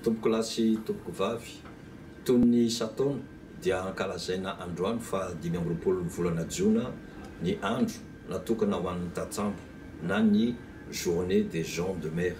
Tompokolahy sy tompokovavy, toy ny isan-taona dia ankalazaina androany faha dimy amby roapolo ny volana jona ny andro natokana ho an'ny tantsambo na ny Journée des gens de mer.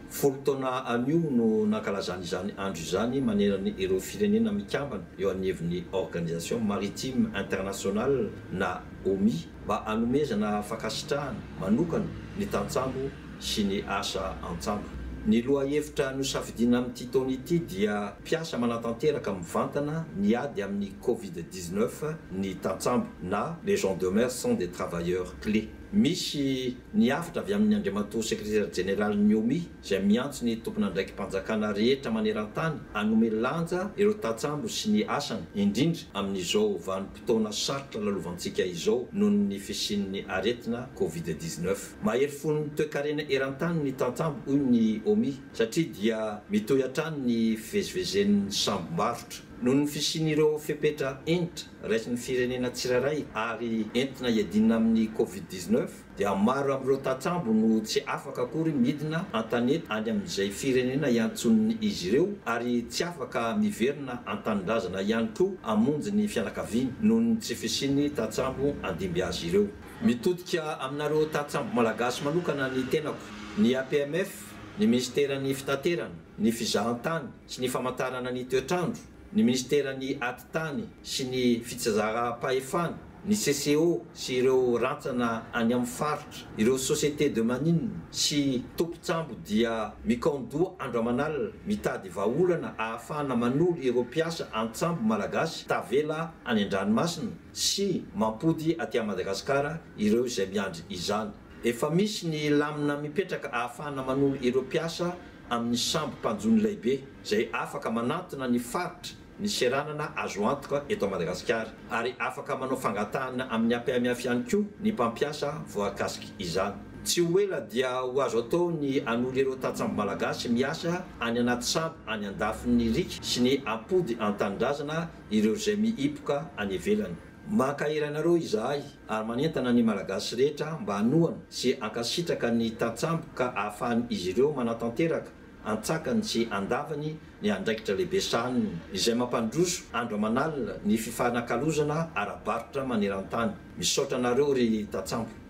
Folo taona anio no nankalazana izany andro izany manerana ireo firenena mikambana eo anivon'ny Organisation Maritime Internationale na OMI. mba hanomezana fankasitrahana manokana ny tantsambo sy ny asa an-tsambo. Ny lohahevitra nosafidiana amin'ity taona ity dia Mpiasa manatanteraka mivantana ny ady amin'ny Covid dix-neuf ny tantsambo na Les gens demeurent sont des travailleurs clés. Misy ny hafatra avy amin'ny Andriamatoa Sekretera Jeneralin'ny OMI izay miantso ny tompon'andraiki-panjakana rehetra maneran-tany hanome lanja ireo tantsambo sy ny asany, indrindra amin'izao vanim-potoana. Fotoana sarotra lalovantsika izao noho ny fisian'ny aretina covid dix-neuf. Mahery fo ny toekarena eran-tany ny tantsambo, hoy ny Omi, satria dia mitohy hatrany ny fivezivezen'ny sambom-barotra. Noho ny fisian'ireo fepetra hentitra raisin'ny firenena tsirairay ary entina iadiana amin'ny covid dix-neuf, dia maro amin'ireo tantsambo no tsy afaka akory midina an-tanety any amin'izay firenena iantson'izy ireo ary tsy afaka miverina an-tanindrazana ihany koa hamonjy ny fianakaviany noho ny tsy fisian'ny tantsambo handimby azy ireo. Mitodika aminareo tantsambo malagasy manokana ny tenako, ny APMF, ny minisiteran'ny fitaterana, ny fizahantany sy ny famantarana ny toetr'andro, ny Minisiteran'ny Atitany sy ny Fitsazaram-pahefana, ny CCO sy ireo rantsana any amin'ny faritra, ireo sociétés de manines sy tompon-tsambo dia mikaon-doha andro aman'alina mitady vahaolana ahafahana manolo ireo mpiasa an-tsambo malagasy tavela any an-dranomasina sy mampody aty à Madagasikara ireo izay miandry izany. Efa misy ny lamina mipetraka ahafahana manolo ireo mpiasa amin'ny sambo mpanjono laibe izay afaka manantona ny faritra ny seranana azo antoka eto Madagasikara ary afaka manao fangatahana amin'ny APMF ihany koa ny mpampiasa voakasik izany. Tsy ho ela dia ho azo atao ny hanoly ireo tantsambo malagasy miasa any anaty sambo any andafin'ny riaka sy ny ampody an-tanindrazana ireo izay mihipoka any ivelany. Mankahery anareo izahay ary manentana ny Malagasy rehetra mba hanohana sy hankasitraka ny tantsambo ka ahafahan' izy ireo manatanteraka antsakany sy andavany ny andraikitra lehibe sahaniny izay mampandroso andro aman'alina ny fifanakalozana ara-barotra maneran-tany. Misaotra anareo ry tantsambo.